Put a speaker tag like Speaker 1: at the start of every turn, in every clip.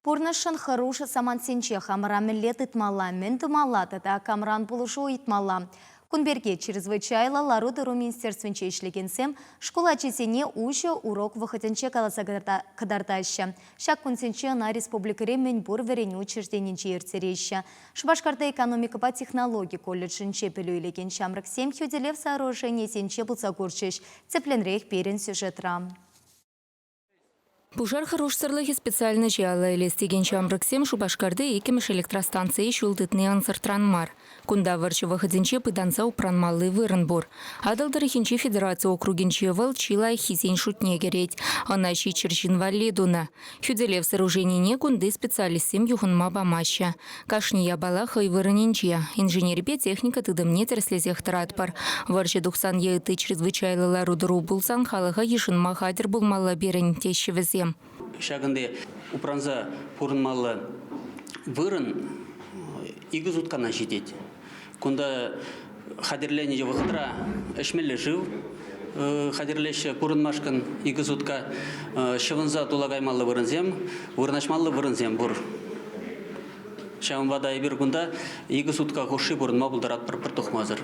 Speaker 1: Пурнӑҫшӑн хӑрушӑ самантсенче хамӑра мӗнле тытмалла, мӗн тумалла тата камран пулӑшу ыйтмалла? Кун пирки чрезвычайлӑ лару-тӑру министерствинче ӗҫлекенсем шкул ачисене уҫӑ урок вӑхӑтӗнче каласа кӑтартаҫҫӗ. Ҫак кунсенче ӑна республикӑри мӗнпур вӗренӳ учрежденинче ирттереҫҫӗ. Шупашкарта экономикӑпа технологи колледжӗнче пӗлӳ илекен ҫамрӑксем хӳтӗлев сооруженийӗсенче пулса курчӗҫ, тӗплӗнрех пирӗн сюжетра.
Speaker 2: Пушар хӑрушсӑрлӑхӗ специальноҫе алла илес текен ҫамрӑксем Шупашкарти иккӗмӗш электростанцие ҫул тытни ӑнсӑртран мар. Кунта вӑрҫӑ вӑхӑтӗнче пытанса упранмалли вырӑн пур. Атӑл тӑрӑхӗнчи федераци округӗнче вӑл чи лайӑххисен шутне кӗрет. Ӑна ҫиччӗр ҫын валли тунӑ. Хӳтӗлев сооруженине кунти специалистсем юхӑнма памаҫҫӗ. Кашни япала хӑй вырӑнӗнче. Инженерипе техника тытӑмне тӗрӗслесех тӑратпӑр. Вӑрҫӑ тухсан е ытти чрезвычайлӑ лару-тӑру пулсан халӑха йышӑнма хатӗр пулмалла пирӗн, теҫҫӗ вӗсем. Ҫакӑнти
Speaker 3: упранса пурӑнмалла вырӑн икӗ суткана ҫитет. Кунта хатӗрленӗ вӑхӑтра ӗҫмелле шыв хатӗрлеҫҫӗ. Пурӑнмашкӑн икӗ сутка ҫӑвӑнса тула каймалли вырӑнсем, вырнаҫмалли вырӑнсем пур. Ҫавӑнпа та эпир кунта икӗ сутка хушши пурӑнма пултаратпӑр пӗр тухмасӑр.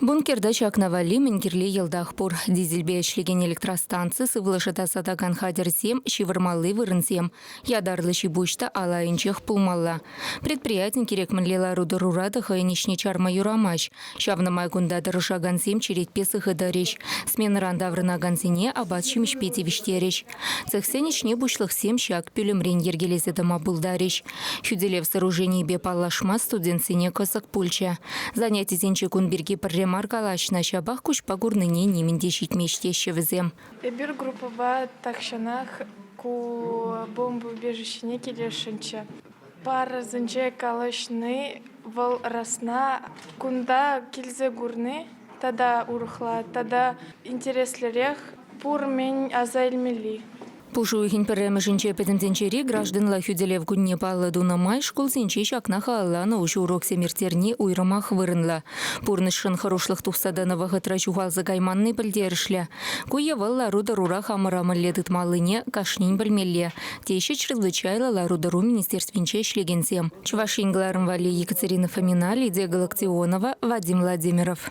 Speaker 3: Бункерта
Speaker 2: ҫакна валли мӗн кирлӗ йӑлтах пур. Дизельпе ӗҫлекен электростанци, сывлӑша тасатакан хатӗрсем, ҫывӑрмалли вырӑнсем, Ятарлӑ ҫипуҫ та ал айӗнчех пулмалла. Предприятин кирек мӗнле лару-тӑрура та хӑйӗн ӗҫне чарма юрамасть. Ҫавна май кунта тӑрӑшакансем черетпе сыхӑтарӗҫ, сменӑран таврӑнакансене апат-ҫимӗҫпе тивӗҫтерӗҫ. Цехсен ӗҫне пуҫлӑхсем ҫак пӳлӗмрен йӗркелесе тӑма пултарӗҫ. Хӳтӗлев сооруженийӗпе паллашма студентсене кӑсӑк пулчӗ. Занятисенче кун пирки пӗрре мар калаҫнӑ, ҫапах куҫпа курнине нимӗн те ҫитмест теҫҫӗ вӗсем. Эпир группӑпа
Speaker 4: тахҫанах ку бомбоубежищӗне килесшӗнччӗ. Парӑсенче калаҫни, вӑл расна, кунта килсе курни тата урӑхла, тата интереслӗрех, пур мӗн аса илмелли. Пушӑ уйӑхӗн
Speaker 2: пӗрремӗшӗнче пӗтӗмтӗнчери гражданла хӳтӗлев кунне паллӑ тунӑ май шкулсенче ҫакна халалланӑ уҫӑ уроксем ирттерни уйрӑмах вырӑнлӑ. Пурнӑҫшӑн хӑрушлӑх тухса тӑнӑ вӑхӑтра ҫухалса кайманни пӗлтерӗшлӗ. Ку е вӑл лару-тӑрура хамӑра мӗнле тытмаллине кашнин пӗлмелле, теҫҫӗ чрезвычайлӑ лару-тӑру министерствинче ӗҫлекенсем. Чӑваш Ен кӑларӑм валли Екатерина Фоминаль, Лидия Галактионова, Вадим Владимиров.